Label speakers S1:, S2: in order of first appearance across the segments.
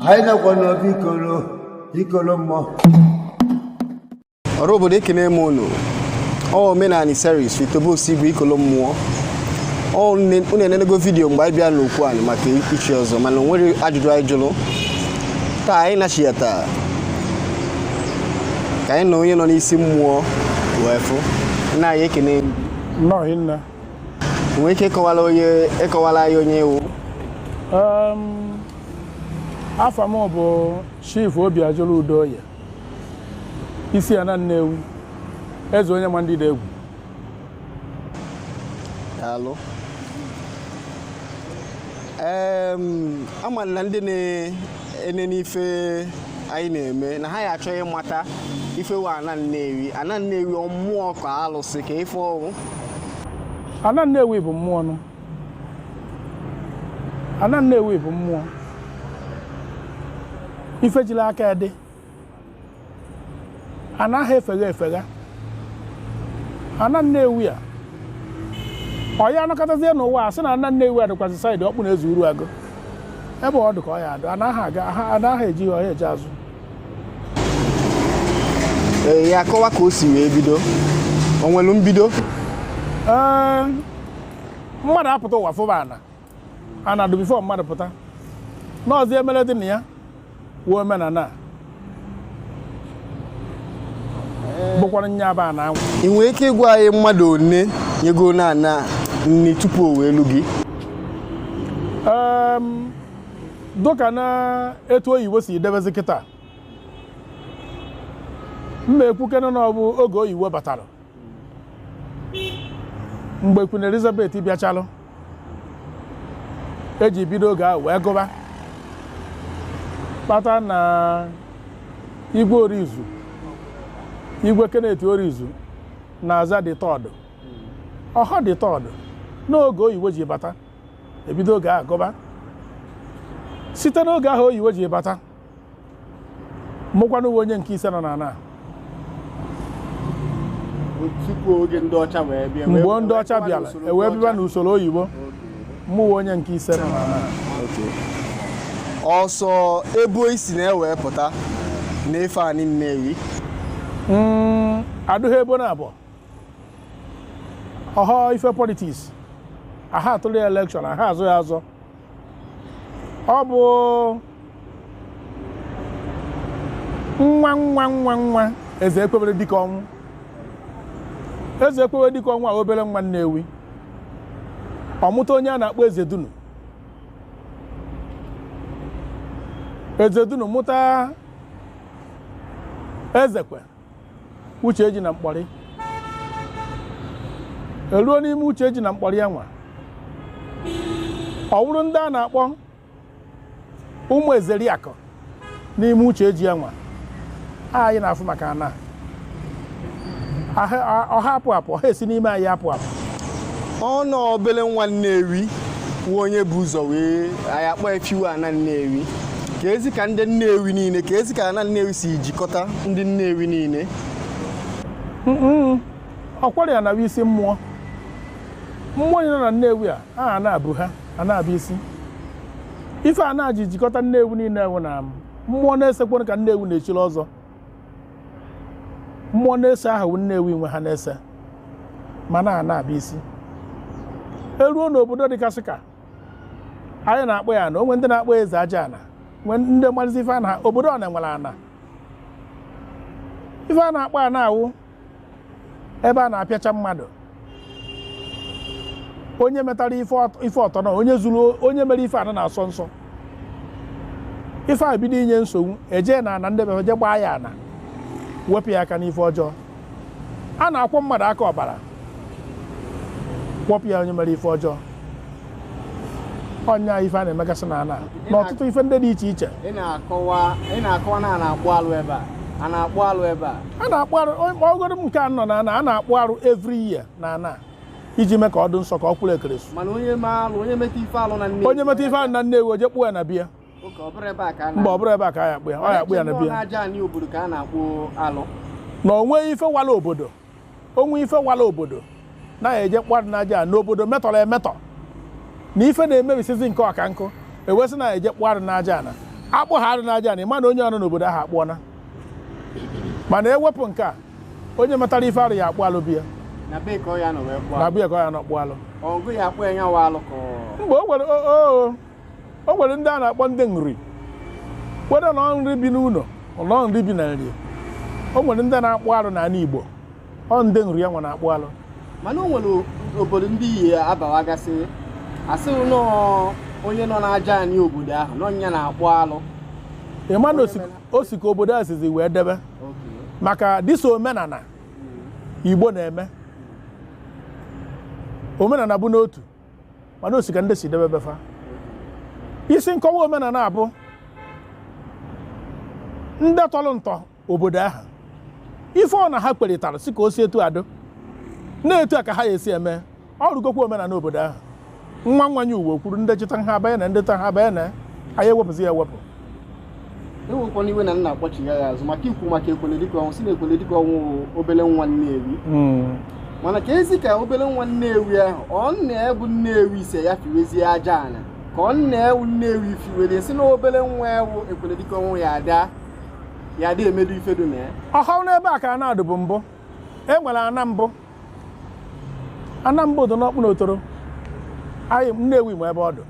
S1: anyị nọkwa n'obi ikoro ikoro mmụọ ọra
S2: obodo ekene m unu ọ omenani series with Tobe Osigwe ikolo mmụọ ọ ne- unu enenego video mgbe anyị bịa n'okwu anyị maka ichi ọzọ mana o nwere ajụjụ anyị jụrụ taa anyị nachiyata ka anyị na onye nọ n'isi mmụọ wee fụ nna anyị ekene
S3: nnọọ nna nwee
S2: ike ịkọwala anyị onye ị
S3: wụ afa m bụ chief Obiajulu Udoye isi ana nnewi eze onye ma ndị egwu
S2: daalụ em ama na ndị na-enene ife anyị na-eme na ha ya achọ ịmata ife wụ ana nnewi ana nnewi ọ mmụọ ka alụsị ka ife ọ
S3: wụ ana nnewi bụ mmụọ nụ ana nnewi bụ mmụọ ife jiri aka ya dị anaghị efegha efegha ana nnewi a ọ ya anọkatazie n'ụwa a sị na ana nnewi a dịkwasị side Okpuneze Uruagu ebe ọ dị ka ọ ya adụ anaghị aga anaghị eji ihe ọya eji
S2: azụ ee ya akọwa ka o si wee bido o nwere mbido ee
S3: mmadụ apụta ụwa fụba ana ana adụ before mmadụ pụta n'ọzi emere dị na ya wụ omenana a bụkwara nye aba na anwụ ị nwere ike ịgwa anyị
S2: mmadụ one nyegona ana nni tupu o wee lu
S3: gị dụka na etu oyibo si debezi kịta m ma ekwukene na ọ bụ oge oyibo batara mgbe Queen Elizabeth bịachalụ e ji bido oge ahụ wee gụba kpata na igwe orizu igwe Kenneth orizu na-aza the third ọhọ the third n'oge oyibo ji bata e bido oge ahụ gụba site n'oge ahụ oyibo ji bata mụkwanụ wụ onye nke ise nọ
S2: n'ana mgbe ndị ọcha bịara
S3: e wee bịa n'usoro oyibo mụ wụ onye nke ise nọ n'ana ọ
S2: sọ ebo isi na-ewepụta na-efe ani nnewi
S3: hmm, adụghị ebo na abụọ ọhọ ife politics aha atụrụ ya election aha azọ ya azọ ọ bụ nwa nwa nwa nwa eze ekwebere dike ọnwụ eze ekwebere dike ọnwụ a wụ obele nwa nnewi ọ mụta onye a na-akpọ eze dunu eze dunu mụta ezekwe uche ji na mkpọrị eruo n'ime uche ji na mkpọrị ya nwa ọ wụrụ ndị a na-akpọ ụmụ ezeriakụ n'ime uche ji ya nwa anyị na-afụ maka ana ọha apụ apụ ọha esi n'ime anyị apụ apụ ọ
S2: nọ obele nwa Nnewi wụ onye bu ụzọ wee anyị akpọ efiwe ana Nnewi keezi ka ndị Nnewi niile keezi ka ana Nnewi si jikọta ndị Nnewi
S3: niile ọkwara ya na-awụ isi mmụọ mmụọ niine nọ na Nnewi a aha na-abụ ha ana bụ isi ife ana ji jikọta Nnewi niile wụ na mmụọ n'ise kwanụ ka Nnewi na-echiri ọzọ mmụọ n'ise ahụ Nnewi nwe ha n'ise mana ana bụ isi eruo n'obodo dịgasị ka anyị na-akpọ ya ana o nwe ndị na-akpọ eze aja ana nwe ndị marịzi ife ana obodo ọ na-enwere ana ife a na-akpọ ana wụ ebe a na-apịacha mmadụ onye metara ife ọtọ na onye mere ife ana na-asọ nsọ ife a bido inye nsogbu e jee na ana ndị befe je gbaa ya ana wepụ ya aka n'ife ọjọọ a na-akwọ mmadụ aka ọbara kwọpụ ya onye mere ife ọjọọ ọ nya ife a na-emegasị na ana na ọtụtụ ife ndị dị iche iche ị na-akọwa
S2: ị na-akọwa na a na-akpụ alụ ebe a a na-akpụ alụ ebe a a na-akpụ
S3: arụ ọgọdọ m nke a nọ na ana a na-akpụ arụ every year na ana iji mee ka ọ dị nsọ ka ọ kwụrụ ekeresu mana onye ma alụ onye
S2: meta ife alụ na nne onye meta ife arụ na nnewi o
S3: je kpụọ ya na be ya Oke, ọ bụrụ ebe a
S2: ka a na- mba ọ bụrụ ebe a ka a ya akpụ
S3: ya ọ ya akpụ ya na be ya n'aja anị obodo
S2: ka a na-akpụ alụ na o
S3: nwe ife wala obodo o nwe ife wala obodo na anyị eje kpụa arụ n'aja ana n'obodo metọrọ emetọ na ife na-emebisizi nke ọka nkụ e wee sị na anyị je kpụa arụ n'aja ana akpụ ha arụ n'aja ana mana onye nọ n'obodo ahụ akpụọna mana ewepụ nke a onye metara ife arụ ya akpụ alụ be ya na be ka ọ ya nọ
S2: wee kpụọ na alụ. be ya ka ọ ya nọ kpụọ alụ
S3: ọgụ ya akpụ ya nyawa
S2: alụ ka ọ- mgbe o nwere o o
S3: o nwere ndị a na-akpọ ndị Nri kwere na Nri bi n'ụnọ nọ Nri bi na Nri o nwere ndị na-akpụ arụ n'anị Igbo ọ ndị Nri ya nwa na-akpụ alụ mana o nwere
S2: obodo ndị ị ya-abawagasị a sị nọ onye nọ n'aja anị obodo ahụ na ọ nya na-akpụ alụ ị ma
S3: na o si ka obodo a sizi wee debe maka dịso omenana hmm. igbo na-eme omenana bụ n'otu mana o si ka ndị si debe be fa isi nkọwa omenala abụ ndị tọrọ ntọ obodo ahụ ife ọ na ha kparịtara si ka o si etu a dụ na etu a ka ha ya esi eme ọ rụgokwa omenala obodo ahụ nwa nwanyị uwe kwuru ndị chịta ha abanye na ndị ta ha abanye na anyị ewepụzi ya ewepụ
S2: ewekwana iwe na nna akpọchigha ya azụ maka ikwu maka ekwele dịka ọnwụ si na ekwele dịka ọnwụ obele nwa nnewi hmm. mana ka ezi ka obele nwa nnewi ahụ ọ nna ya bụ nnewi sị ya fiwezie aja ana ka ọ nna ya wụ nnewi fiwere si na obele nwa wụ ekwele dịka ọnwụ ya ada ya dị emedu ife dụ na ya ọhụrụ n'ebe a ka
S3: ana dụbu mbụ e nwere ana mbụ ana mbụ dụ n'ọkpụnọ otolo anyị nnewi m ebe ọ dụ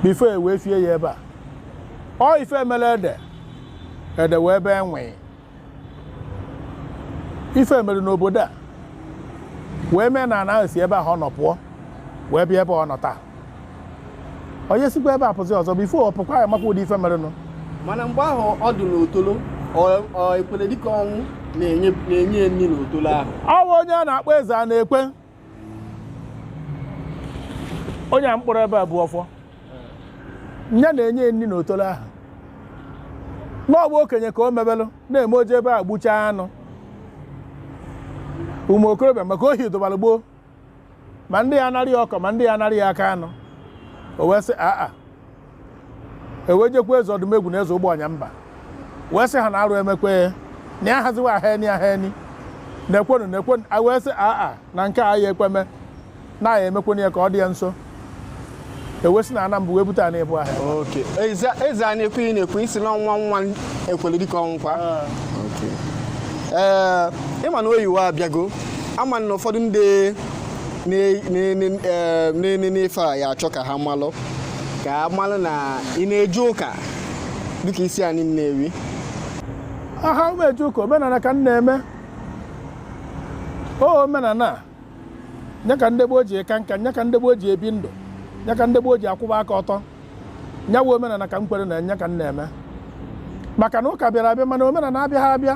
S3: before e wee fie ya ebe a ọ ife e mele ede ede wee ebe e nwe ife mere n'obodo a wee mee na ana ahụ si ebe ahụ ọ nọ pụọ wee bịa ebe ọ nọ taa onye sikwa ebe a pụzi ọzọ before ọ pụkwa ya makwa ụdị ife merenụ mana mgbe
S2: ahụ ọ dị n'otolo ekwele dịka ọnwụ na-enye nri n'otolo ahụ ọ wụ onye a na-akpọ
S3: eze anaekwe onye a mkpụrụ ebe a bụ ọfọ nya na-enye nri n'otolo ahụ n'ọgba okenye ka o mebelụ na-eme o je ebe e gbuchaa anụ ụmụ okorobịa maka ohi dụbara gboo ma ndị ya anara ya ụkwụ ma ndị ya anara ya aka anụ o wee sị aa e wee jekwa eze odumegwu na eze ụgbọnyamba wee sị ha na arụ emekwe ya na ya haziwa aha eni aha eni na-ekwenu na-ekwenu a wee sị aa na nke a ya ekweme na ya emekwenu ya ka ọ dị ya nso e wee si na ana mbụ wee bute ana ịbụ ahịa oke
S2: eze a na-ekwu ị na-ekwu isi na nwa nwa ekwele dịka ọnwụkwa ah. ee eh, ịma na oyibo abịago ama na ụfọdụ ndị na-ene n'ife a ya achọ ka ha malụ ka ha malụ na ị na-eje ụka dịka isi anị nnewi
S3: aha m eje ụka omenala ka m na-eme o omenala nya ka ndị gboo ji aka nka nya ka ndị gboo ji ebi ndụ nya ka ndị gboo ji akwụba aka ọtọ nya wụ omenala ka m kwere na nya ka m na-eme maka na ụka bịara abịa mana omenala abịaghị abịa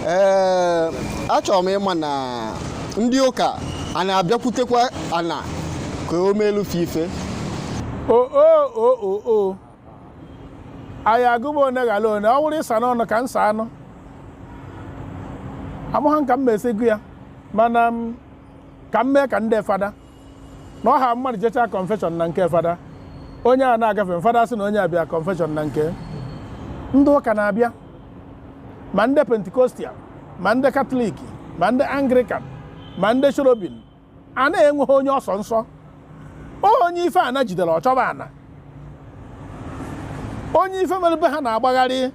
S2: ee achọrọ m ịma na ndị ụka a na-abịakwutekwa ana ka o meelụ fa ife o o o o o
S3: anyị agụba one ghala one ọ wụrụ ịsa n'ọnụ ka nsa anụ amụha m ka m me esi gụọ ya mana ka m mee ka ndị fada na ọha mmadụ jechaa kọnfeshọn na nke fada onye a na-agafe fada sị na onye abịa kọnfeshọn na nke ndị ụka na-abịa ma ndị pentikostal ma ndị katọlik ma ndị anglikan ma ndị cherubim ana enweghị onye ọ sọ nsọ onye ife ana jidere ọ chọba ana onye ife mere be ha na-agbagharị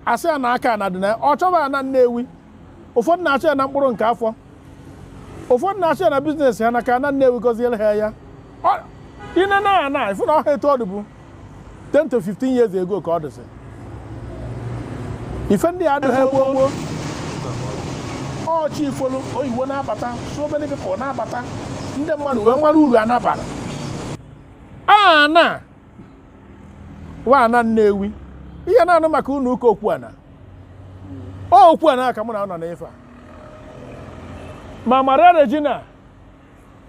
S3: asị ya na aka ana dị na ọ chọba ana nnewi ụfọdụ na-achọ ya na mkpụrụ nke afọ ụfọdụ na-achọ ya na biznes ha na ka ana nnewi gọziere ha ya i nee na ana ị fụ na ọha etu ọ dịbu 10 to 15 years ago ka ọ dịsị ife ndị a adịghị gboo gboo ọchị ifolu oyibo na-abata so many people na-abata ndị mmadụ wee nwere uru ana bara ana wa ana nnewi ihe a na-anụ maka ụnọ ụka Okwuana Okwuana ka mụ na ọ nọ n'ife a ma maria regina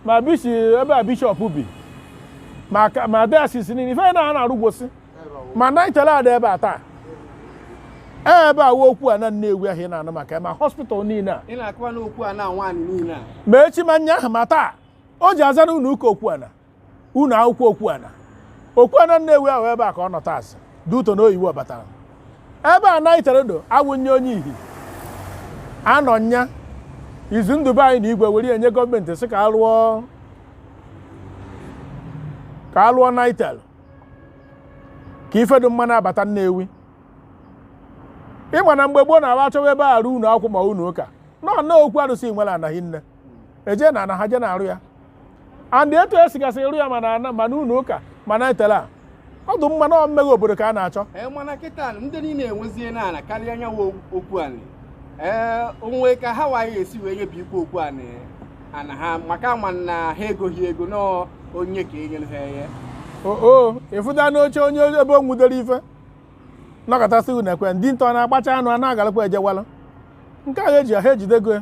S3: ma bisi ebe a bishọp bi ma dayọsis niile ife na a na-arụgwosi ma naịtel dị ebe a taa ee ebe a wụ Okwuana nnewi ahụ ị na-anụ maka ya, ma hospital niile a ma echi ma nyaahụ ma taa o ji aza n'ụnọ ụka Okwuana ụnọ akwụkwọ Okwuana Okwuana Nnewi ahụ ebe a ka ọ nọtasị due to na oyibo batara ebe a naitel dụ awụnye onye ihi anọ nya izu ndị be anyị na igwe were enye gọọmenti sị ka ka a lụọ naitel ka ife dụ mma na-abata Nnewi ị ma na mgbe gboo na-aba achọwa ebe a rụ ụnọ akwụkwọ ma ụnọ ụka nọ na okwu arụsị nwere anaghị nne eje na ana ha je na-arụ ya and etu e sigasị rụ ya ma na ana ma na ụnọ ụka ma naitel a ọdịmma na mmeghe obodo ka a na-achọ ee mana kịta ndị
S4: niile enweziena ana karịa anyị wụ Okwuanị ee o nwe ka ha waghị esi wee nye bụ ikwu Okwuanị ana ha maka a ma na ha egoghị ego nọọ onye ka e nyere ha enye
S3: oo ịfụta n'oche onye ebe o nwudere ife nọkọtasị unu ekwe ndị ntọ na-agbacha anụ a na-agalakwa ejewala nke a ha eji ha ejidego ya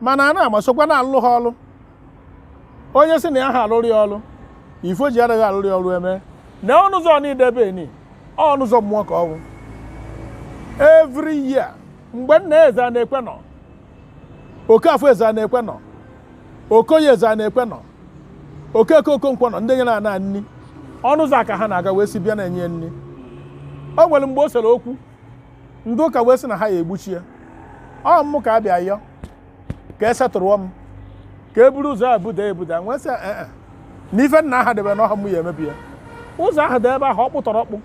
S3: mana a na-ama sokwa na-alụlụ ha ọlụ onye si na ya ha alụrụ ya ọlụ ife o ji adịghị alụrụ ya ọlụ eme na ọnụ ụzọ n'idebe ni ọnụ ụzọ mmụọ ka ọ wụ every year mgbe nna ezeanaekwe nọ okafọ ezeanaekwe nọ okoye ezeanaekwe nọ okeke okonkwo nọ ndị nyere ana nni ọnụ ụzọ a ka ha na-aga wee si bịa na-enye nni o nwere mgbe o sere okwu ndị ụka wee sị na ha ya egbuchi ya ọ mụ ka a bịa yọ ka esetụrụọ m ka e buru ụzọ a buda ebuda m wee sị ee eh, eh. na ife nna ha debe na ọ ha mụ ya emebi ya ụzọ ahụ dị ebe ahụ ọ kpụtọrọ ọkpụ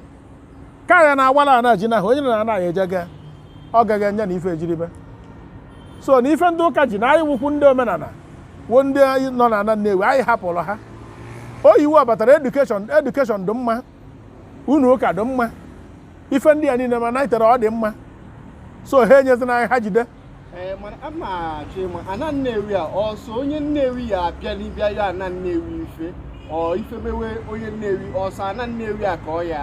S3: ka ya na-awala ana ji n'ahụ onye na anaghị eje ga ọ gaghị enye na ife ejiribe so na ife ndị ụka ji na anyị wụkwu ndị omenala wụ ndị nọ na ana Nnewi anyị hapụrụ ha oyiwo batara education dị mma ụnọ ụka dị mma ife ndị a niile ma Nitel ọ dị mma so ha enyezina anyị ha jide ee mana a ma
S4: achọ ịma ana Nnewi a ọ sọ onye Nnewi ya abịani ịbịa yọ ana Nnewi ife ọ ife mewe onye Nnewi ọ sọ ana Nnewi a ka ọ ya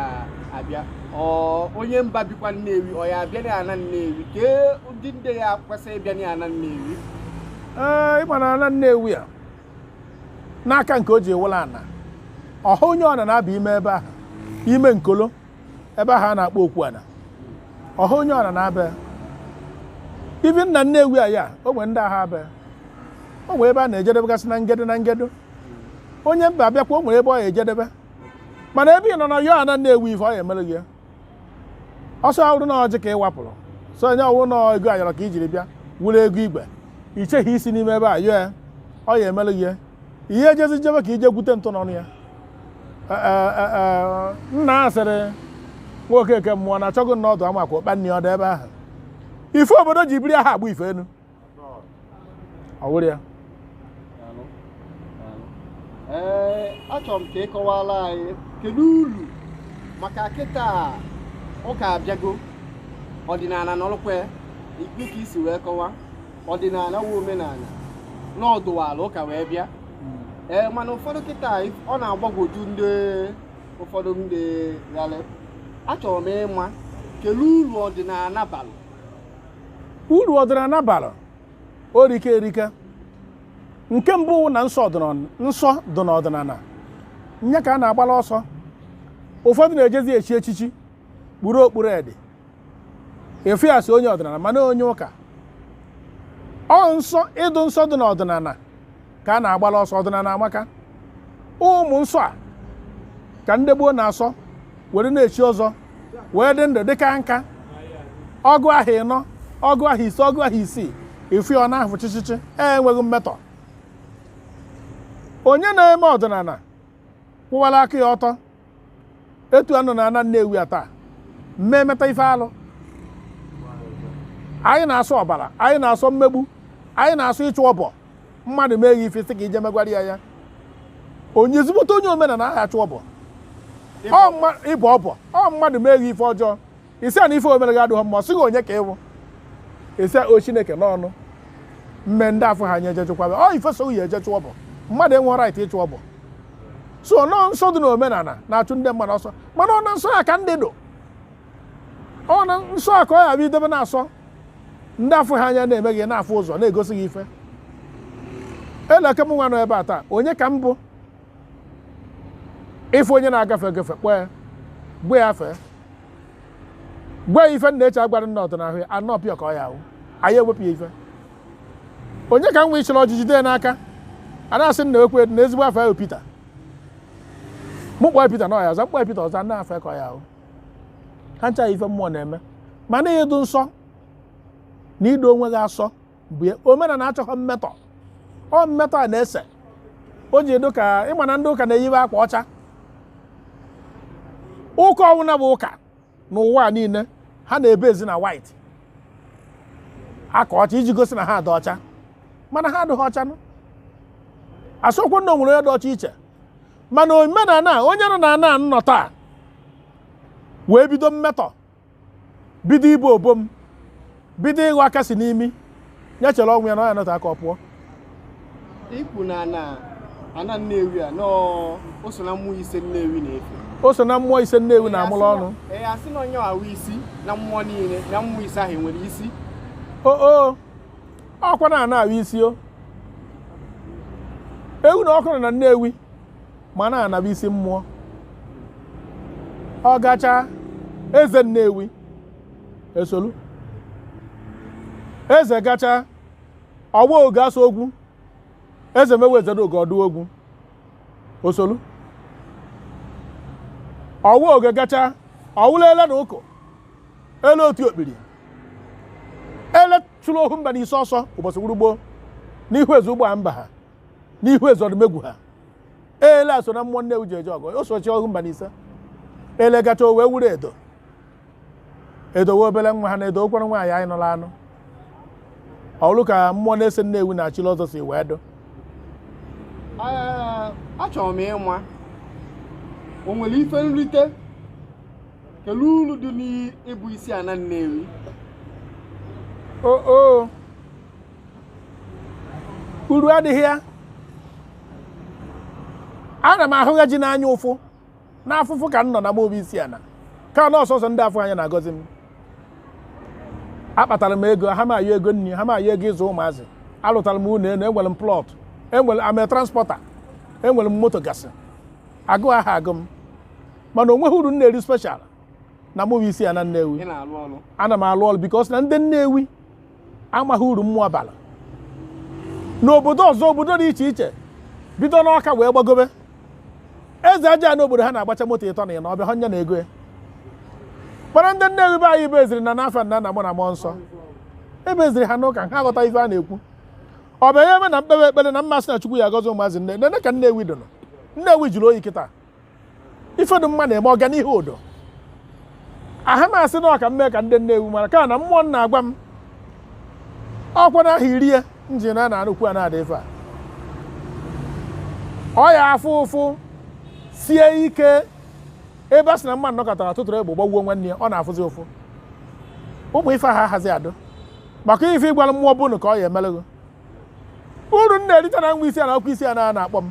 S4: abịa ọ onye mba bikwa Nnewi ọ ya abịa na ana Nnewi kee ụdị ndị ya kwesịrị ịbịa na ana Nnewi ee
S3: ịma na ana Nnewi a n'aka nke o ji wụrụ ana ọha onye ọna na-aba ime ebe ahụ ime nkolo ebe ahụ a na-akpọ okwu ana ọha onye ọna na-ebi ebi na Nnewi a ya o nwere ndị aha aba o nwere ebe a na-ejedebegasị na ngedo na ngedo onye mba abịakwa o nwere ebe ọ ya ejedebe mana ebe ị nọ na yọọ ana Nnewi ife ọ ya emere gị ya ọsọ ọ wụrụ na ọjị ka ị wapụrụ sọ nya ọ wụrụ na ego ayọrọ ka i jiri bịa wụrụ ego igwe i chee ha isi n'ime ebe a yọọ ya ọ ya emelụ gị ya ihe ejezi jebe ka i je gwute ntụ n'ọnụ ya E, e, e, e, nna asịrị nwoke eke mmụọ na achọghị na ọ dụ ama ka ụkpa nne ya ọ dụ ebe ahụ ife obodo ji biri aha abụ ife enu ọ wụrụ
S4: ya ee achọrọ m ka ị kọwara anyị kedu uru maka kịta ụka abịago ọdịnala nọrọkwa ikpe ka i si wee kọwa ọdịnala wụ omenala na ọ dụwala ụka wee bịa ee mana ụfọdụ kịta ọ na-agbagwoju ndị ụfọdụ ndị gharị achọrọ m ịma kedu uru ọdịnala balụ
S3: uru ọdịnala bara o rike erika nke mbụ wụ na nsọ nsọ dị n'ọdịnala nya ka a na-agbala ọsọ ụfọdụ na-ejezi echi echichi kpuru okpu red a fụ ya a sị onye ọdịnala mana onye ụka ọ nsọ ịdụ nsọ dị n'ọdịnala ka a na-agbala ọsọ ọdịnala amaka ụmụ nsọ a ka ndị gboo na-asọ were na-echi ọzọ wee dị ndụ dị kaa nka ọgụ ahọ ịnọ ọgụ ahọ ise ọgụ ahọ isii ị fụ ya ọ na-ahụ chịchịchị e enweghị mmetọ onye na-eme ọdịnala kwụwara aka ya ọtọ etu a nọ na ana Nnewi a taa mmee meta ife alụ anyị na-asọ ọbara anyị na-asọ mmegbu anyị na-asọ ịchụ ọbọ mmadụ mee gị ife sị ka i je megwara ya ya onye ezigbote onye omenala aha achụ ọbọ ịbọ ọbọ ọ mmadụ mee gị ife ọjọọ ị sị ya na ife o mere gị adịghị mma ọ sị gị onye ka ị wụ ị sị ọ chineke n'ọnụ mme ndị afụhọ anya eje chụkwa ọ ife so ya eje chụọ bụ mmadụ enwe right ịchụ ọ bụ sọ nọ nsọ dị n'omenala na-achụ ndị mmadụ ọsọ mana ọ na nsọ ya ka ndị dụ ọ na nsọ ya ka ọ ya bụ idebe na-asọ ndị afụhọ anya na-eme gị na-afụ ụzọ na-egosi gị ife ele ka m nwa nọ ebe a taa onye ka m bụ ị fụ onye na-agafe agafe kpọọ ya gwa ya fee gwa ya ife nna eche agwara nna ọ dụ n'ahụ ya a nọpịa ka ọ ya awụ anyị ewepụ ya ife onye ka nwa chịrị ọjị jide ya n'aka a na-asị nna ekwe na ezigbo afa ya wụ Pita mụ kpọọ Pita na ọ ya aza m kpọọ Pita ọ zaa nna afọ ka ọ ya awụ ha ncha ife mmụọ na-eme mana ịdụ nsọ na ido onwe gị asọ mgbe omenala achọghị mmetọ ọ mmetọ a na-ese o ji edo ka ị ma na ndị ụka na-eyiwe akwa ọcha ụka ọwụna bụ ụka n'ụwa niile ha na-ebezi na white akwa ọcha iji gosi na ha dị ọcha mana ha adịghị ọcha nụ asịkwa na o nwere onye dị ọcha iche mana omenala onye nọ na ana nọ taa wee bido mmetọ bido ibu obo m bido ịghọ aka si n'imi ya chere ọnwụ ya na ọ ya nọta aka ọ
S4: pụọ ikwu na na ana nnewi a nọọ o so na mmụọ ise nnewi na-efe o so na mmụọ
S3: ise nnewi na-amụrụ ọnụ ee a sị na ọ ya
S4: awụ isi na mmụọ niile na mmụọ ise ahụ e nwere isi o
S3: o ọkwa na ana awụ isi o ewu na ọkụ nọ na nnewi mana ana bụ isi mmụọ ọ gachaa eze nnewi esolu eze gachaa ọ wụ oge asa ogwu ezemewi eze oge ọdụ ogwu osolu ọwa oge gachaa ọ wụlụ ele na ụkọ ele otu okpiri ele chụrụ ohu mba n'ise ọsọ ụbọchị wụrụ gboo n'ihu eze ụgbọ mba ha n'ihu ezeodumegwu ha ele a so na mmụọ nnewi ji eje ọgụ o so chụọ ohu mba n'ise ele gachaa o wee wụrụ edo edo wụ obere nwa ha na edo okwere nwaanyị anyị nụrụ anụ ọrụ ka mmụọ n'ise nnewi na-achịla ọzọ si wee dụ
S4: Ee, achọrọ m ịma ma o nwere ife nrite kele uru dị n'ịbụ isi ana Nnewi o o
S3: uru adịghị ya ana m ahụ ya ji n'anya ụfụ n'afụfụ ka m nọ na m bụ isi ana ka na ọ sọsọ ndị afụha anya na-agọzi m akpatara m ego aha m ayọ ego nri aha m ayọ ego ịzụ ụmụazị alụtara m ụlọ elu enwere m plot enwere I'm a transporter enwere m moto gasị agụụ aha agụ m mana onweghị uru m na-eri special na mụ bụ isi ana Nnewi ana m alụ ọrụ because na ndị Nnewi amaghị uru mmụọ bara n'obodo ọzọ obodo dị iche iche bido n'Ọka wee gbagobe eze aja n'obodo ha na-agbacha moto ịtọ na ịnọ ọ bụha nya na ego ya mana ndị Nnewi be anyị beziri na n'afa nna na nwa na mmụọ nsọ ebeziri ha n'ụka ha aghọta ife a na-ekwu ọ bụ ebe na m kpewe ekpere na m asị na chukwu ya agọzi ụmụazị niine nene ka Nnewi dụnụ Nnewi jụrụ oyi kịta ife dụ mma na-eme ọganihu udo aha m asị na ọ ka m mee ka ndị Nnewi mara ka na mmụọ na-agwa m okwu na aha iri ya njin a na-anụkwu a na-adị ife a ọ ya afụ ụfụ sie ike ebe a sị na mmadụ nọkatara tụtụrụ egbe gbagbuo nwanne ya ọ na-afụzi ụfụ ụmụ ife ha hazi adụ maka ife ị gwara mmụọ bụnụ ka ọ ya emelụ gị uru m na-erite na nwa isi ana ọkwa isi ana a na-akpọ m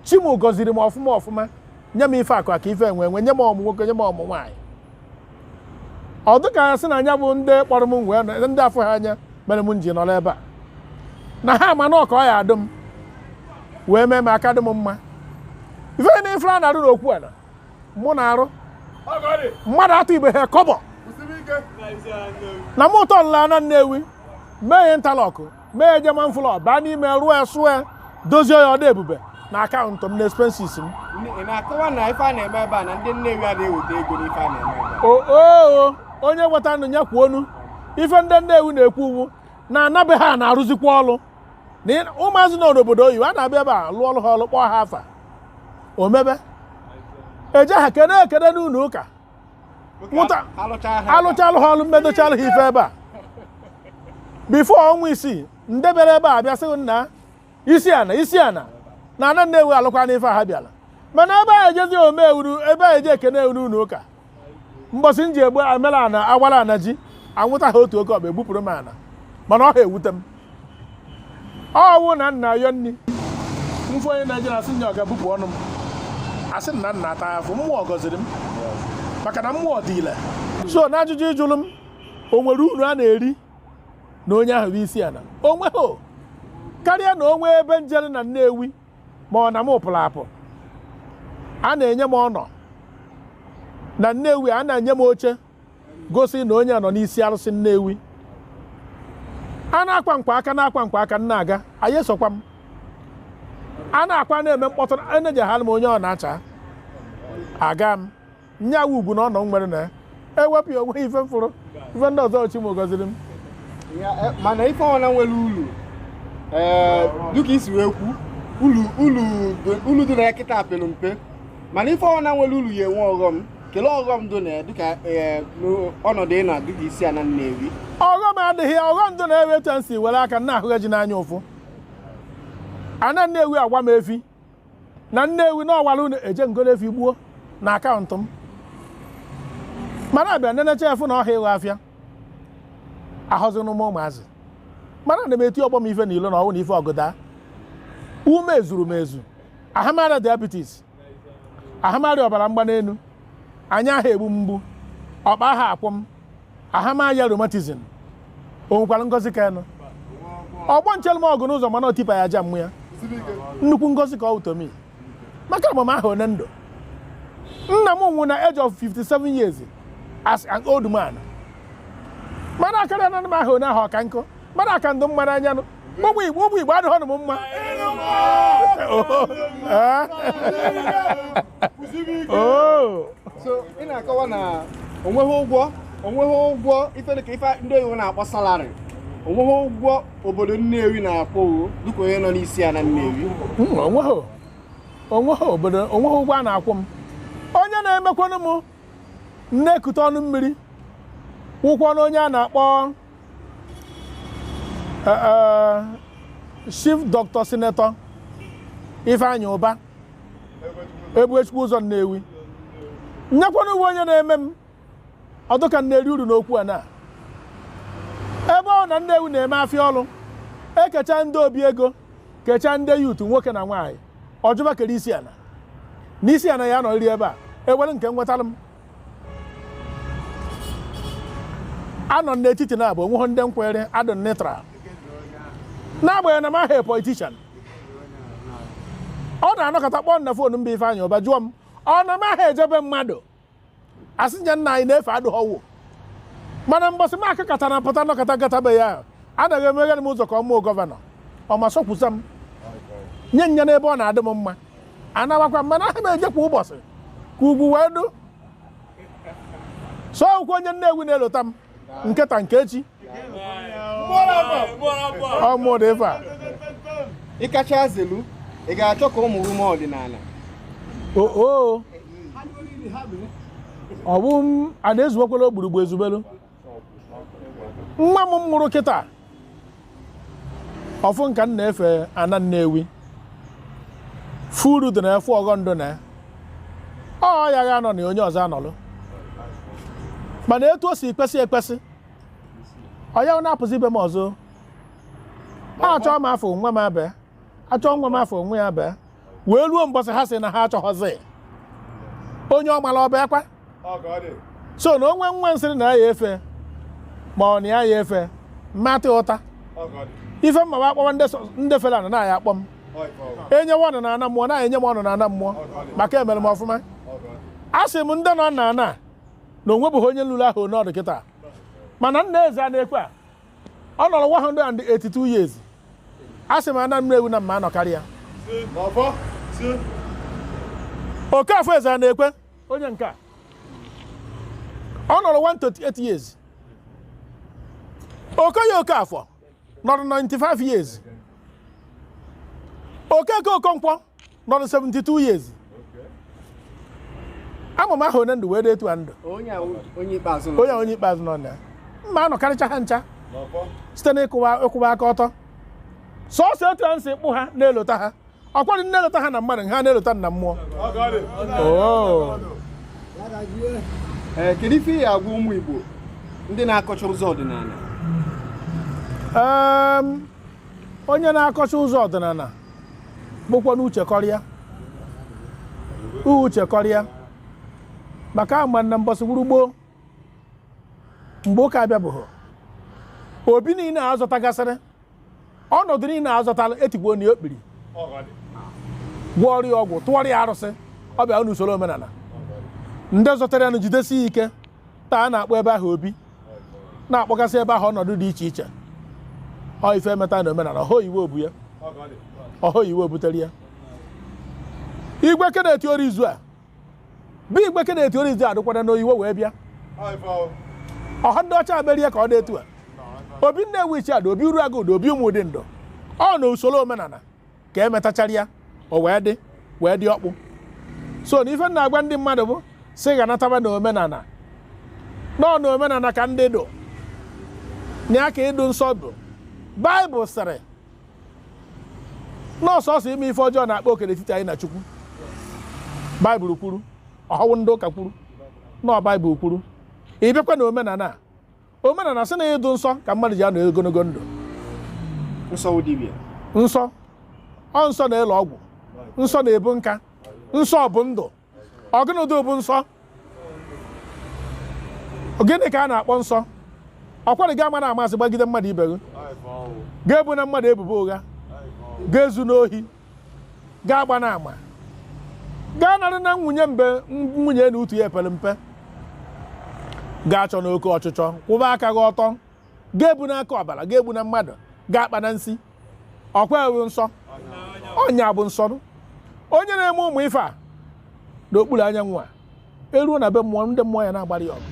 S3: chi m gọziri m ọfụma ọfụma nye m ife akụ akụ ife enwe enwe nye m ụmụ nwoke nye m ụmụ nwaanyị ọ dịka ya sị na nya bụ ndị kpọrọ m wee nọ- ndị afụha anya mere m m ji nọrọ ebe a na ha ma na ọ ka ọ ya adụ m wee mee m aka dị m mma ife na ife a na-arụ n'okwu ana mụ na-arụ mmadụ atụibeha kọbọ na mụ tọlụ ana Nnewi mee ya interlock mee ya German floor baa n'ime rụọ ya sụọ ya dozie ya ọ dụ ebube na account m na expenses m
S4: oo
S3: onye nweta nụ ya kwuo onu ife ndị Nnewi na-ekwu ọ wụ na ana be ha na-arụzikwa ọrụ na ụmụazị nọ n'obodo oyibo a na-abịa ebe a lụọlụ ha ọrụ kpọọ ha afa o mebe eje ha kene ekene n'ụlọ ụka nwụta alụchalụ ha ọlụ m medochalụ ha ife ebe a before ọnwa isii ndị bịara ebe a bịa sị gị nna isi ana isi ana na ana Nnewi alụkwanụ ife a ha bịara mana ebe a ejezi o mee ọ wụrụ ebe a eje ekene wụ n'ụlọ ụka mbọsị m ji egbu amela ana awara ana ji anwụta ha otu oke ọkpa egbupụrụ m ana mana ọ ha ewute m ọ wụ na m na-ayọ nri m fụ onye Naijiria asị nya ọ ga-ebupụ ọnụ m asị na m na-ata afụfụ mmụọ gọziri m maka na mmụọ dị ile so na ajụjụ ị jụrụ m o nwere uru a na-eri na onye ahụ bụ isi ana onweghị karịa na o nwe ebe m jere na Nnewi ma ọ na m pụrụ apụ a na-enye m honour na Nnewi a na-enye m oche gosi na onye nọ n'isi arụsị Nnewi a na-akwa nkwa aka na-akwa nkwa aka nna aga anyị esokwa m a na-akwa na-eme mkpọtụ enejeghara m onye ọna achaa agaa m nya wụ ugwu na honour m nwere na ya ewepụ ya onwe ife m fụrụ ife ndị ọzọ chi m gọziri m eh,
S4: mana ife ọna nwere ulu eh, dịka i si wee kwu ulu dị na ya kịta pere mpe mana ife ọna nwere ulu ya enwe ọghọm kelee ọghọm dị na ya dịka eh, ọnọdụ ị nọ dịka isi ana Nnewi ọghọm adịghị ya
S3: ọghọm dị na ewe etu si were aka na ahụghị ji n'anya ụfụ ana Nnewi agwa m efi na Nnewi na ọwara unu eje m golu efi gbuo na akaụntụ m mana a bịa nenechaa a fụ na ọ họ ịghọ afịa ahọzinụ m ụmụazị mana na m eti ọgbọ m ife n'ilo na ọnwụ na ife ọgụda ume zuru m ezu aha m arịa diabetes aha m arịa ọbara mgbani enu anya aha egbu m mgbu ọkpa aha akwụ m aha m aya rheumatism o nwekwara ngozi ka nụ ọgbọ nchelụ m ọgụ n'ụzọ mana otipa ya aja mmụ ya nnukwu ngozi ka ọ wụ to me maka agba m ahọ one ndụ nna m nwụ na age of 57 years as an old man mana akarịa na m ahọ one ahụ ọka nkụ mana aka ndụ mma n'anya nụ ụmụ igbo ụmụ igbo adịhọnụ m
S4: mma so ị na-akọwa na onweghị ụgwọ onweghị ụgwọ ife dịka ife ndị oyibo na-akpọ salary onweghị ụgwọ obodo Nnewi na-akwụ gị dịka onye nọ n'isi ana Nnewi
S3: onweghị obodo onweghị ụgwọ a na-akwụ m onye na-emekwanụ m na-ekute ọnụ mmiri wụkwanụ onye a na-akpọ eh, eh, chief dr senator ifeanyị ụba ebuechukwu ụzọ nnewi nya kwanụ wụ onye na-eme m ọ dị ka m na-eri uru n'okwu ana ebe ọna nnewi na-eme afịa ọlụ e kechaa ndị obi ego kechaa ndị youth nwoke na nwaanyị ọ jụba kere isi ana n'isi ana ya nọrịrị ebe a e were nke m wetara m anọ m n'etiti na abụ onweghị ndị m kwụrụ adụ m neutral n'agbanyeghị na m ahọ politician ọ na-anọkọta kpọọ m na fon mbe Ifeanyị Ụba jụọ m ọ na m aha eje be mmadụ asị m ya nna anyị na efe adụhọ o mana mbọsị m akakọta na pụta nọkọta gata be ya a na-emeghere m ụzọ ka ọ mụ wụ gọvanọ ọ ma sọkwusa m nye nya n'ebe ọ na-adị m mma anawakwa mana aha m eje kwa ụbọsị ka ugwu wee dụ so akwụkwọ onye Nnewi na-elota m nke taa nke echi ọmụdụ ife a ị
S4: kacha zelu ị ga-achọ ka ụmụ gị mee ọdịnala oo
S3: ọ bụ m a na-ezuwekwala ogburugbu ezubelu nwa m mụrụ kịta ọ fụ ka m na-efe ana Nnewi furu dị na efu ọghọ ndụ na ọ ya ga-anọ na onye ọzọ anọlụ mana etu o si kwesị ekwesị ọ ya na-apụzi ibe m ọzọ a chọọ m afụhọ nwa m abịa a chọọ nwa m afụhọ nwa ya abịa wee ruo mbọsị ha sị na ha achọghọzi onye ọ mara ọ bịakwa so na o nwee nwa m sịrị na ya efe ma ọ na ya ya efe mmatị ụta ife m ma a kpọwa ndị fere ana na a ya-akpọ m e nyewa ọnụ na ana mmụọ na e nye m ọnụ na ana mmụọ maka emere m ọfụma a sị m ndị nọ na ana na o nwebuhọ onye lụrụ ahụ n'ọdụ kịta mana nna Ezeanaekwe a ọ nọrọ 182 years a sị m ana Nnewi na m ma-anọkarị ya Okafọ Ezeanaekwe onye nke a ọ nọrọ 138 years Okoye Okafọ nọrọ 95 years Okeke Okonkwo nọrọ 72 years ama m aha onye ndụ wee dị etu a ndụ
S4: onye a onye
S3: ikpeazụ nọ na m ma-anọkarịcha ha ncha site na ịkwụwa aka ọtọ sọsọ etu a m si kpọ ha na-elota ha ọ kwa ndị na-elota ha na mmadụ ha na-elota na mmụọ
S4: Oo. Ee, kedu ife ị ya-agwa ụmụ Igbo ndị na-akọcha ụzọ ọdịnala Em,
S3: onye na-akọcha ụzọ ọdịnala bụkwanụ uche kọrọ ya uche kọrọ ya maka a ma na mbọsị bụrụ gboo mgbe ụka abịabuhọ obi niile a zọtagasịrị ọnọdụ niile a zọtara e tigbuo ya okpiri gwọọrọ ya ọgwụ tụọrọ ya arụsị ọ bịa n'usoro omenana ndị zọtara ya na jidesi ya ike taa a na-akpọ ebe ahụ obi na-akpọgasị ebe ahụ ọnọdụ dị iche iche ọ ife e meta na omenana ọ họ Igwe bu ya ọ họ Igwe butere ya Igwe Kenneth Orizu a bụ Igwe Kenneth Orizu a dụkwara n'oyiwe wee bịa ọ họ ndị ọcha mere ya ka ọ dị etu a obi Nnewichi a dụ obi Uruagụ dụ obi Ụmụdim dụ ọ na usoro omenana ka emetachara ya o wee dị wee dị ọkpụ so na ife na-agwa ndị mmadụ bụ sị ha nataba na omenala na ọ na omenala ka ndụ dụ na ya ka ịdụ nsọ dụ baịbụl sịrị na ọ sọsọ ime ife ọjọọ na-akpa oke n'etiti anyị na chukwu baịbụl kwuru ọhụwụ ndị ụka kwuru na ọ baịbụl kwuru ị bịakwa na omenala a omenala sị na ịdụ nsọ ka mmadụ ji anọ ogologo ndụ nsọ nsọ ọ nsọ na-ele ọgwụ nsọ na-ebu nka nsọ bụ ndụ ọ gụnụ dụ bụ nsọ gịnị ka a na-akpọ nsọ ọkwara gị agbana ama asị gbagide mmadụ ibe gị gị ebona mmadụ ebubo ụgha gị ezuna ohi gị agbana ama gị anarịna nwunye mbe nwunye na utu ya epere mpe gị achọna oke ọchịchọ kwụba aka gị ọtọ gị ebuna aka ọbara gị egbuna mmadụ gị akpana nsi ọkwa ya wụ nsọ ọ ya bụ nsọ onye na-eme ụmụ ife a n'okpuru anyanwụ a eruo na be mmụọ ndị mmụọ ya na-agbara ya ọgụ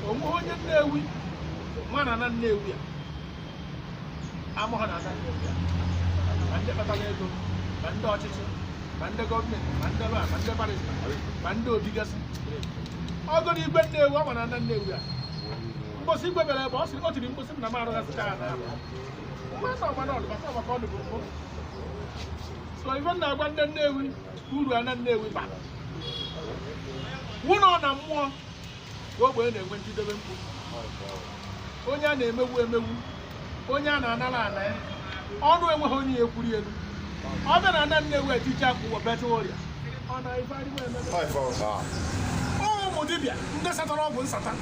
S3: o nwe onye Nnewi ma ana Nnewi a amaghị na ana Nnewi a ma ndị kpatara ego ma ndị ọchịchị ma ndị gọọmenti ma ndị lọya ma ndị barịsta ma ndị ọ dịgasị ọgụ na igwe Nnewi ọ ma na ana Nnewi a mbọsị igwe bere ebe ọ sịrị o tiri mbọsị m na m arụghasịcha ya na so ife na-agwa ndị Nnewi uru ana Nnewi bara wụ na ọ na mmụọ ka ogbenye na-enwe njidebe mkpu onye a na-emegbu emegbu onye a na-anara ana ya onye enweghị onye ya ekwuri elu ọ bịa na ana Nnewi eticha ụwa beta ọrịa ọ na ife adịghị ememe ụmụ dibịa ndị satara ọgwụ nsata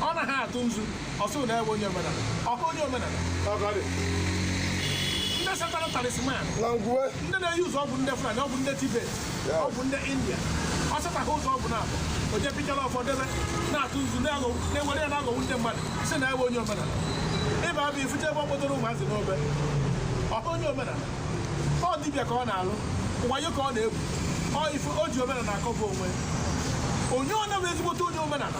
S3: ọ naghị atụ nzu ọ sị na ya wụ onye omenala ọkụ onye omenala ndị satara talisman ndị na-eyi ụzọ ọgwụ ndị fulani ọgwụ ndị tibet ọgwụ ndị india ọ setaghị ụzọ ọgwụ naabụ o je pichara ụfọdụ ebe na-atụ nzu na-ewere ya na-aghọgbu ndị mmadụ sị na ya wụ onye omenala ịba bụ ifute ebe ọ kpọtara ụmụazị n'obe ọkụ onye omenala ọ dibịa ka ọ na-alụ wayo ka ọ na-egwu o ji omenala akọba onwe onye ọ na-bụ ezigbote onye omenala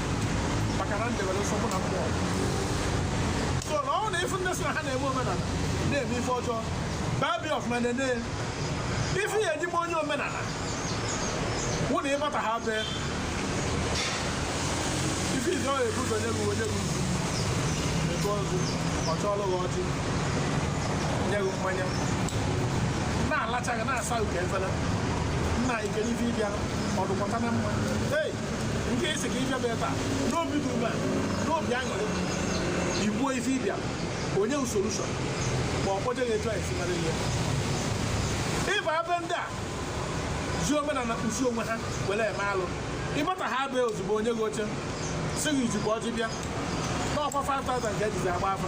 S3: maka na m debere nsọ mụ na mmụọ so na ọ na ife ndị sị na ha na-eme omenala na-eme ife ọjọọ babi ọfụma nene ife ya eji ma onye omenala wụ na ị bata ha be ife izizi ọ na-ebu ụzọ nye gị o nye gị ego ọzọ ọ chọọlụ gị ọjị nye gị mmanya na-alacha gị na-asa uke efere nna ike n'ife ị bịa ọdụkọta na mma ei nke i si ka ịbịaba ebe a n'obi dị mma n'obi aṅụrị i kwuo ife ị bịa o nye gị solushọn ma ọ kpọje gị etu anyị si mara ihe ị baa be ndị a ji omenala kpuchi onwe ha were eme alụ ị bata ha be ozugbo o nye gị oche sị gị i jikwa ọjị bịa na ọ kwa 5000 ka e jizi agba afa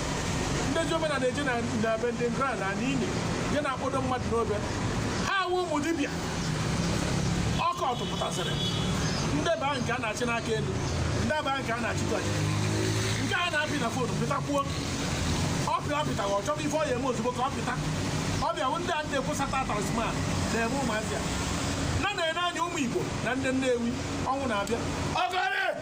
S3: ndị ji omenala eje na na be ndị ngra na ala ili je na-akpọdo mmadụ n'obe ha awụ ụmụ dibịa ọkụ ọtụpụtasịrị ndị baa nke a na-achị n'aka elu ndị baa nke a na-achị gọnye nke a na-apị na fonu pịtakwuo ọ pịa ọ pịtaghị ọ chọrọ ife ọ ya eme ozugbo ka ọ pịta ọ bịawụ ndị a ndị na-ekwusata talisman na-eme ụmụazị a na na-ene anya ụmụ Igbo na ndị Nnewi ọnwụ na-abịa ọgọrị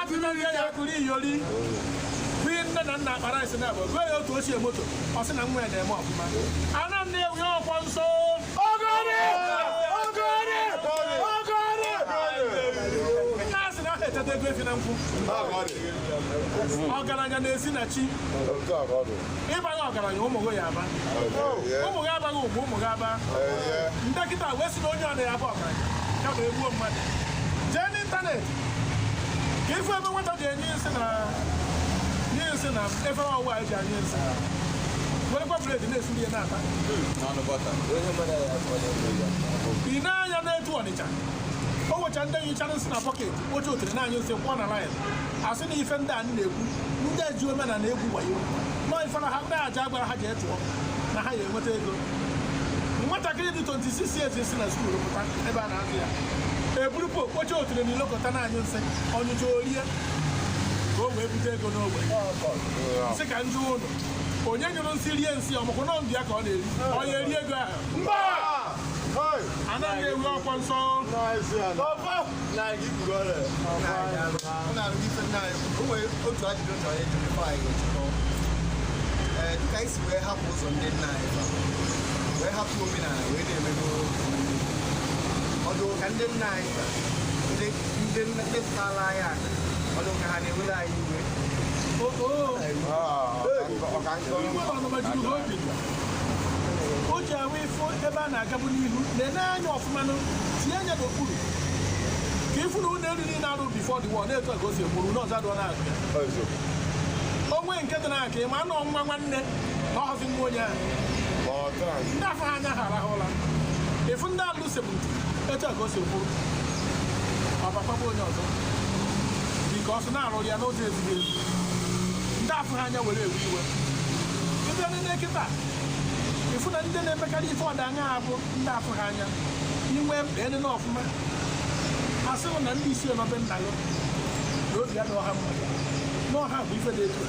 S3: atụnụghị ya kụrụ iyori bụ nne na nna akpara isi na-abụ gụọ ya otu ochie moto ọ sị na nwa ya na-eme ọfụma ana Nnewi ọ kwa nsọ nna a sị na a ha eteta ego efi na nkwụ ọgaranya na-esi na chi ị baghị ọgaranya ụmụ gị ya aba ụmụ gị abaghị ụmụ ụmụ gị aba ndị kịta wee sị na onye ọ na ya aba ọgaranya ya bụ egbuo mmadụ jee n'ịntanetị ka ị fụ ebe nwata ji anyụ nsị na-anyụ nsị na efe ọwụwa anyị ji anyụ nsị werekwa bred na-esuru ya na-ata ị na-anya n'Otu Ọnịcha o nwecha ndị nyụchara nsị na bọket oche otere na-anyụ nsị kwụọ na laịn a sị na ife ndị a m na-ekwu ndị eji omenala egwu wayo na ọ ife na ha ndị aja gwara ha ji etụọ na ha ya enweta ego nwatakịrị dị 26 years si na skuul pụta ebe a na eburupụ okpocha otule na ilokọta na-anyụ nsị ọ nyụcha o rie ka o wee bute ego n'ogbe sị ka m jụ ụnụ onye nyụrụ nsị rie nsị ọmụkwụ nọ mbịa ka ọ na-eri onye ya eri ego ahụ ana
S4: Nnewi ọ kwa nsọ otu ajụjụ chọrọ ịjụ bifo anyị ga-echekọ ee dịka anyị si wee hapụ ụzọ ndị nna anyị fa, wee hapụ omenala wee na-emego omenala ọ dị ka ndị nna anyị kpa, ndị ndị nna- ndị pụtara anyị aka ọ dị ka ha na-ewere anyị
S3: iwe o ji ahụ ife ebe a na-agabu n'ihu na-ene anya ọfụma nụ, tinye anya n'okpuru ka ị fụ na ụlọ elu niile a rụ before the war na-etu a ka o si egburu n'ọzọ adụọ na-abịa o nwe nke dị na-aka ịma anụ ọnwa nwanne na ọhọzi nwa onye ahụ ma ọ taa anyị ndị afụ ha anya ha arahụ ụra ị fụ ndị alụ sebutu etu a ka o si kwuru ọ bakwaba onye ọzọ dịka ọsụ na-arụ ya n'ụzọ ezighị ezi ndị afụ ha anya were ewe iwe ị bịa nene kịta ị fụ na ndị na-emekarị ife ọda anya ha bụ ndị afụ ha anya i wee nene ọfụma ha sịrị na ndị isi nọ be nna gị na obi adịghị ha mma na ọha bụ ife dị etu a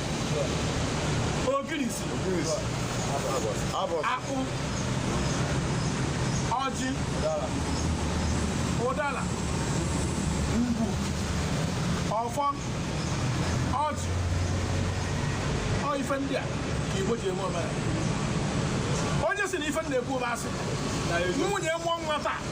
S3: ogirisi akpụ ọjị ụdara ngwu ọfọ ọjị ọ ife ndị a ka Igbo ji eme omenala onye sị na ife na-ekwu bụ asị nwunye nwa nwa taa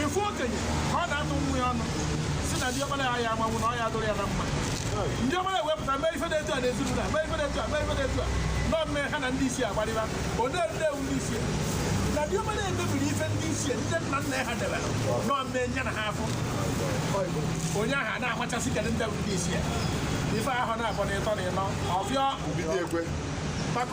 S3: ị fụ okenye ka ọ na-atụ nwa ya ọnụ sị na diọkpara ya ya amanwụ na ọ ya adụrụ ya na mma diọkpara ewee pụta mee ife dị etu a na ezinụlọ mee ife dị etu a mee ife dị etu a nọ mme ha na ndị isi agbarịba odee ndị wụ ndị isi na diọkpara emebiri ife ndị isi ndị nna nna ha debere nọ mme nya na ha afụ onye ahụ a na-amachasị kedụ ndị wụ ndị isi ife ahụ na abọ na ịtọ na ịnọ ọfịọ maka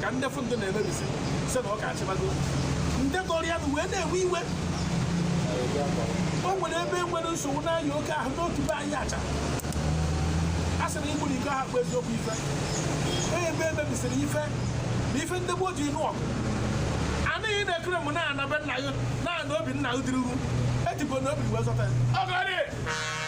S3: ka ndị fụ ndị na-emebisi sị na ọ ka achịbago ndị tọrọ ya wee na-ewe iwe o nwere ebe e nwere nsogbu na-aya oke ahụ n'otu be anyị acha a sị na igburu iko ahụ bụ eziokwu ife onye ebe emebisiri ife na ife ndị gboo ji nụọ ọgụ anaghị na-ekere m n'ana be nna gị n'ana obi nna gị dịruru ejikwa na obi wee zọta ya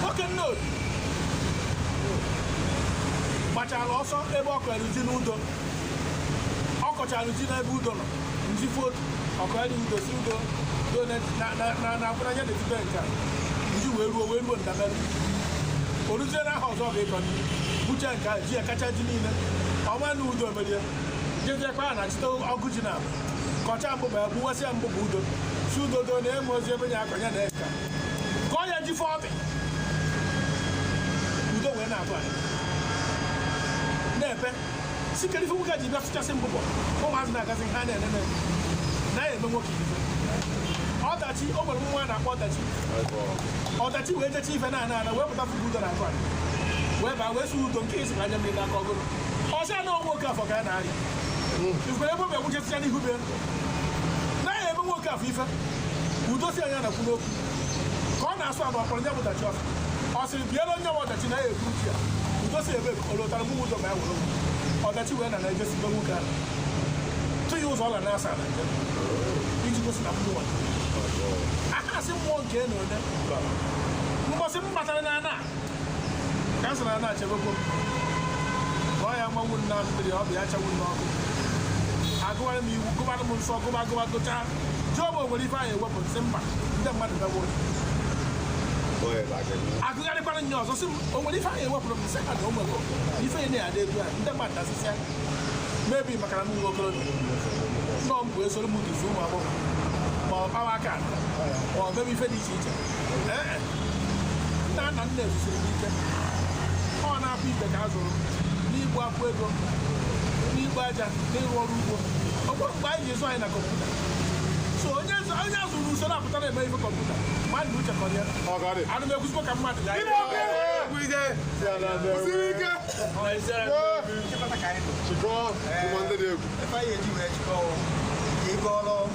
S3: nwoke nne obi gbachara ọsọ ebe ọ kọrọ ji n'udo ọ kọchara ji n'ebe udo nọ nji foto ọkọ ya dị udo sị udo udo na-akwụnanya na-etibe nke a ji wee ruo wee ruo ndabere o ruzie n'ahọ ọzọ ga-ekọ buche nke a ji ya kacha ji niile ọma na udo merie jeziekwa ya na chịta ọgụ ji na kọcha mbụbọ ya gbuwasịa mbụbọ udo sị udo do na e nwerọzi ebe ya akọnya na eka kọọ ya ji fọ ọbị udo wee na-abụ anyị na-ebe sị kedu ife nwoke ji bịa fụchasị mbụbọ ụmụazị na-agazi ha na-enene na ya eme nwoke ife ọdachi o nwere nwa a na-akpọ ọdachi ọdachi wee jecha ife na ana ana wee pụta fụba udo na akụ anyị wee baa wee sị udo nke isi anya mmiri n'aka ọgụrụ ọ sị ya na ọ bụ oke afọ ka ya na-arịa ikwere ebe ọ bịa gwụchesịcha n'ihu be naghị eme nwoke afọ ife udo si anya na-ekwu n'okwu ka ọ na-asụ agba kpọrọ nye bụdachi ọsị ọ sịrị biela onye nwe ọdachi na ya ekwu uche ya udo si ebe ka ọ lụtara mụ ụzọ ma ya were okwu ọdachi wee na na ejesi be nwoke ahụ tụ ya ụzọ ọ ga na-asa na njem iji gosi na mmụọ aka asị mmụọ nke na ole mbọsị m batara na ana ka m sị na ana chebekwo ọ ya mmanwụ na mmiri ọ bụ ya chanwụ n'ọkụ agụwara m iwu gụbara m nsọ gụba gụba gụchaa jụọ m o nwere ife anyị ewepụ sị mba ndị mmadụ mewo a gụgharịkwara m ya ọzọ sị m o nwere ife anyị ewepụrụ m sị ha na o nwere ife ya na-adị etu a ndị mmadụ dasịsịa mebi maka na m nwe okorobịa nọ m bụ esoro m duzi ụmụ agbọghọ ma ọ kpawa aka ma ọ mebe ife dị iche iche nna nna nna a zụsiri m ike ọ na-abụ ibe ka a zụrụ n'igbu akwụ ego n'igbu aja n'ịrụ ọrụ ugbo ọ bụrụ mgbe anyị ga-azụ anyị na kọmputa so onye zụ- onye a zụrụ usoro apụta na-eme ife kọmputa mmadụ na uche kọrọ ya ọgarị anụ m ekwuzikwa ka mmadụ ya kwụsịrị ike chịkọọ ụmụ ndị dị egwu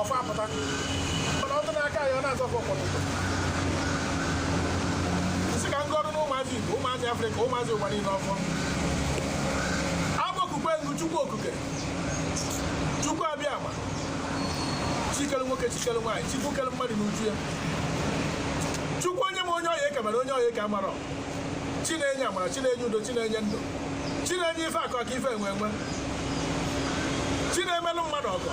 S3: ọfọ apụta mana ọtụ n'aka ya ọ na-agọ ọfọ kwa ụtụtụ m sị ka m gọọrọ na ụmụazị igbo ụmụazị afrịka ụmụazị ụwa niile ọfọ agbakukwe m gị chukwu okike chukwu abịama chi kelu nwoke chi kelu nwaanyị chukwu kelu mmadụ n'uju ya chukwu onye ma onye ọ ya-eke mana onye ọ ya-eke amarọ chi na-enye amara chi na-enye udo chi na-enye ndụ chi na-enye ife akụ akụ ife enwe enwe chi na-emelụ mmadụ ọgọ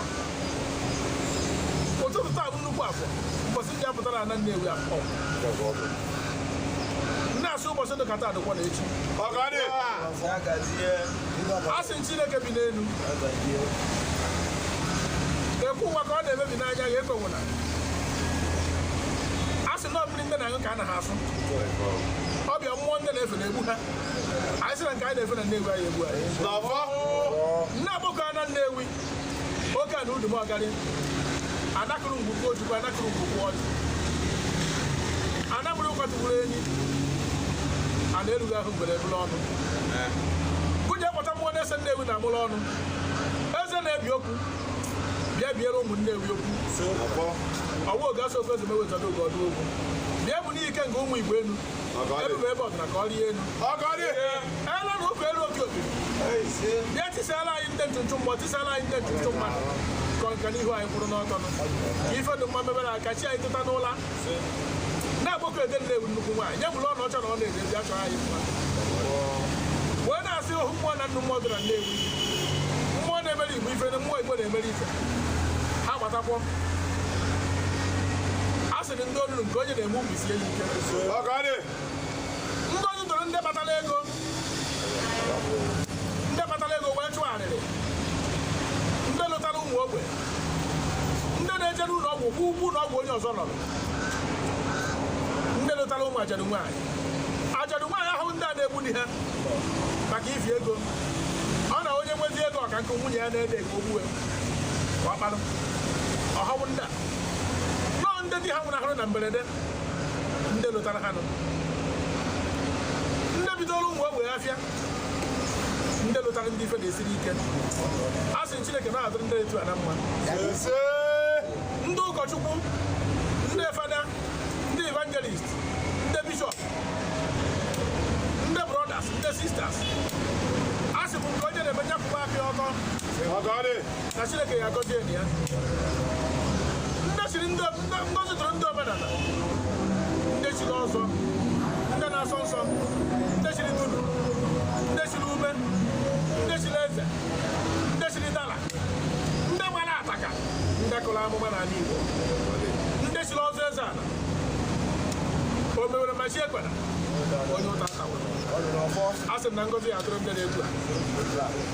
S3: ụtụtụ taa bụ nnukwu afọ ụbọchị ndị apụtara na nnewi afọ nne a sị ụbọchị dị kata adịkwa na echi a sị chineke bi n'elu ekwu ụwa ka ọ na-emebi n'anya ya ekwewụla ndị na-aṅụ ka a na ha afụ ọbịa mmụọ ndị na-efe na-egbu ha anyị sị na nke anyị na-efe na nnewi aya egbu anyị n'ọfọ nne agbọkọ ana nnewi oke ana umudim ọgarị ana kụrụ ngwugwu ojukwu ana kụrụ ngwugwu ọjị ana mụrụ kwatụgburu enyi ana erughị ahụ mgbere ebule ọnụ gụnye kpọta mmụọ na-ese nnewi na amụrụ ọnụ eze na-ebi okwu bịa biere ụmụ Nnewi okwu ọwa oge asọ ofe ozugbo ewetara oge ọdụ okwu bịa bụ n'ike nke ụmụ Igbo enu ebube ebe ọ dina ka ọ rie enu elu na ụka elu oke oke bịa tisala anyị ndị ntụntụ mmụọ tisala anyị ndị ntụntụ mmadụ kọrọ nka n'ihu anyị kwụrụ n'ọtọ ife dị mma mebere ka chi anyị teta n'ụla na-akpọku edo nnewi nnukwu nwaanyị nye bụrụ ọnọcha na ọ na-ede ndị achọrọ anyị mma wee na-asị ohu mmụọ na nnu mmụọ dị na nnewi mmụọ na-emere igbo ife na mmụọ igbo na-emere ife ha gbatakwọ a sịrị ndị olulu nke onye na-eme ubi sie ya ike ndị onye tọrọ ndị kpatara ego ndị kpatara ego wee chụọ arịrị ndị lotara ụmụ ogbe ndị na-eje n'ụlọ ọgwụ kwụọ ụgwọ ụlọ ọgwụ onye ọzọ nọ ndị lotara ụmụ ajadu nwaanyị ajadu nwaanyị ọhọwụ ndị a na-egbu di ha maka ifi ego ọ na onye nwezi ego ọ ka nke nwunye ya na-ene ego o gbue ọ kparụ ọhọwụ ndị a nọọ ndị di ha nwụnahụrụ na mberede ndị lotara ha nọ ndị bidooro ụmụ ogbe afịa ndị lotara ndị ife na-esiri ike a sị Chineke na-adụrụ ndị etu a na mma ndị ụkọchukwu ndị fada ndị evangelist ndị bishọp ndị brothers ndị sisters a sị m nke onye na-eme nya kwụba aka ọtọ na chineke ya agọzi enyi ya ngozi dụrụ ndị omenala ndị chiri ọzọ ndị na-asọ nsọ ndị chiri dudu ndị chiri ume ndị chiri eze ndị chiri dala ndị gbara ataka ndị kụrụ amụma n'ala igbo ndị chiri ọzọ eze ala o mewere ma chi ekwena onye ụta ata asị m na ngozi ya-adụrụ ndị na-ekwu a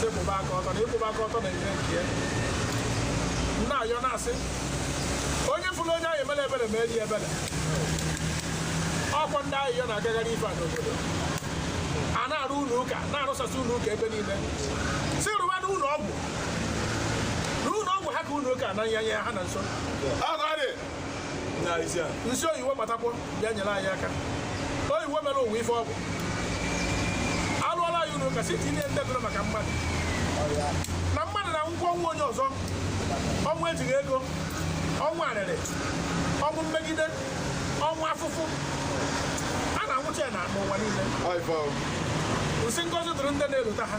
S3: sị kwụba aka ọtọ na ịkwụba aka ọtọ na-enye nke ya n na-ayọ na-asị onye fụrụ onye a ya-emere ebere meere ya ebere ọkwa ndị ahịhịa na-agagharị ife a n'obodo a na-arụ ụlọ ụka na-arụsasị ụlọ ụka ebe niile sị rụba na ụlọ ọgwụ na ụlọ ọgwụ ha ka ụlọ ụka na nyanye ha na nso nsị oyiwe gbatakwọ bịa nyere anyị aka oyiwe mere ụwa ife ọgwụ arụọla anyị ụlọ ụka sị tinye ndebere maka mmadụ na mmadụ na-anwụkwa ọnwụ onye ọzọ ọnwụ ejighị ego ọnwụ arịrị ọnwụ mmegide ọnwụ afụfụ a na-anwụcha ya na n'ụwa niile nsị ngozi dụrụ ndị na-elota ha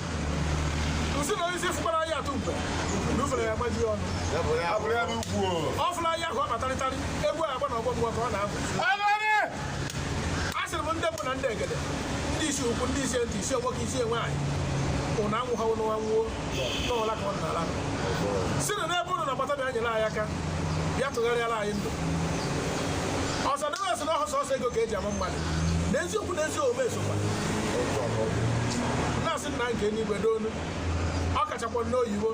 S3: nsị na onyeisi fụkwara anyị atụ mgbe na ufere ya-agbaji ọnụ ọ fụrụ anyị ka ọ kpatarịtarị egwu agba na ọgbọ mgbe ka ọ na-abụ a sịrị m ndị mbụ na ndị egede ndị isi ukwu ndị isi nta isi nwoke isi nwaanyị ụnụ anwụha ụnụ anwụọ n'ụla ka ọ na-ala sị na n'ebe ụnụ nọ gbata bịa nyere anyị aka bịa tụgharịara anyị ndụ ọzọ dịghị ọsọ na ọ họ sọsọ ego ka eji ama mmadụ n'eziokwu n'ezi omume sokwa na-asị nna nke n'igwe n'onu ọ kachakwa n'oyibo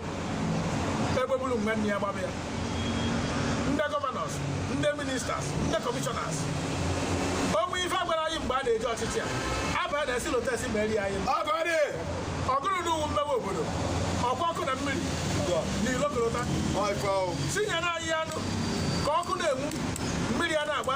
S3: ebe bụrụ nwanne ya gbaba ya ndị gọvanọs ndị ministers ndị kọmishọnas o nwe ife a gwara anyị mgbe a na-eji ọchịchị a aba na esi lotesi ma eri anyị ọgụrụ n'ụwụ mmepe obodo ọkwa ọkụ na mmiri n'ilo n'ụnọ tinye na anyị anụ ka ọkụ na-enwu mmiri a na-agba